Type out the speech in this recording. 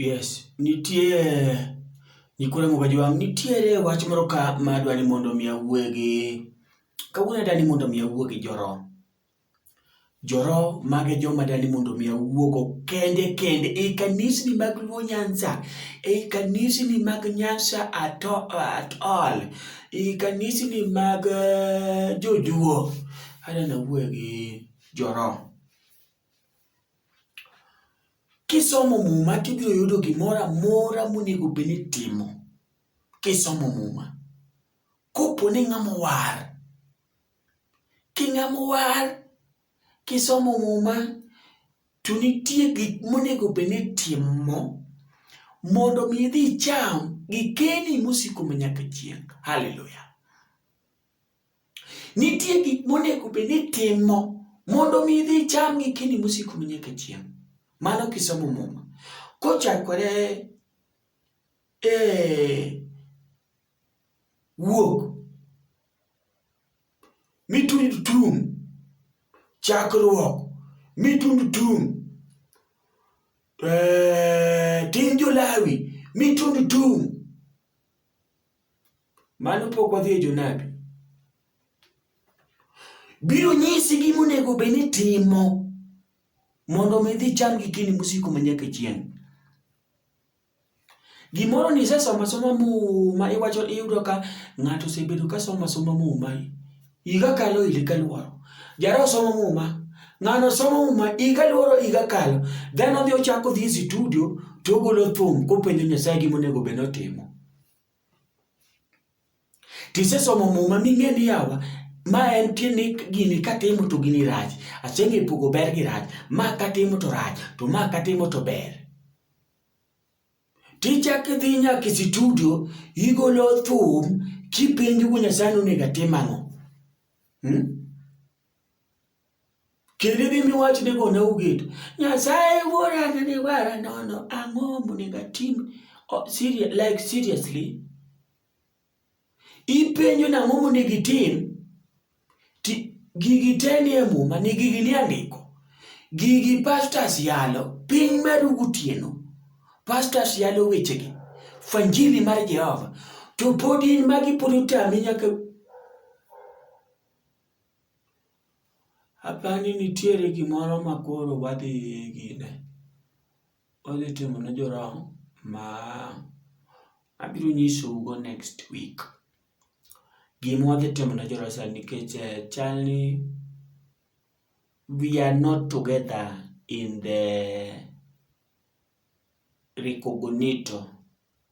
Yes, nitie Nyikwa Ramogi Ajwang', nitiere wach moro ka ma adwa ni mondo mi awuoe gi, kawuono adwa ni mondo mi awuo gi Joro. Joro mago e joma adwa ni mondo mi awuogo kende kende ei kanisni mag Luo Nyanza, ei kanisni mag Nyanza at all, ei kanisni mag Jojuo, adwa ni awuoe gi Joro. Kisomo Muma to ibiro yudo gimoro amora monego bed ni itimo kisomo Muma. Kopo ni ing'ama owar, king'ama owar kisomo Muma to nitie gik monego bed ni itimo mondo mi idhi icham gikeni mosiko manyaka chieng'. Haleluya! Nitie gik monego bed ni timo mondo mi idhi icham gi kini mosiko nyaka chieng'. Mano kisomo muma. Kochakore e wuok mitund tum chakruok mitund tum eh, tin jolawi mitund tum Mano pok wadhi e jonabi. Biro nyisi gima onego bed ni timo mondo mi idhi cham gi kini mosiko manyaka chieng'. Gimoro ni isesoma soma muma iwacho iyudo ka ng'ato osebedo ka soma soma muma iga kalo ile kaluoro. Jara osomo muma ng'ano osomo muma iga luoro iga kalo dhano dhi ochako dhi e studio to ogolo thum kopenjo Nyasaye gima onego bed ni otimo. Tisesomo muma ming'e ni yawa ma en tiende gini katimo to gini rach. Aseng'e pogo ber gi rach. Ma katimo to rach, to ma katimo to ber. Tichak idhi nyaka e situdio, igolo thum kipenjo go Nyasaye ni onego atim ang'o. Hmm? Kendo idhi miwach ni gone uget. Nyasaye wuora ne ni wara nono ang'o monego atim? Oh, serious, like seriously? Ipenjo na ang'o monego itim? Ti, gigi te ni e muma, ni gigi ni andiko. Gigi pastors yalo, piny meru gutieno. Pastors yalo wechegi. Fanjili mar Jehova. To pod in magi pod otami nyaka Apani nitiere gimoro ma koro wadhi gine, wadhi timo ne joram ma abiro nyisou go next week. Gima wadhi timo ne joram sani nikech chal ni we are not together in the recogonito.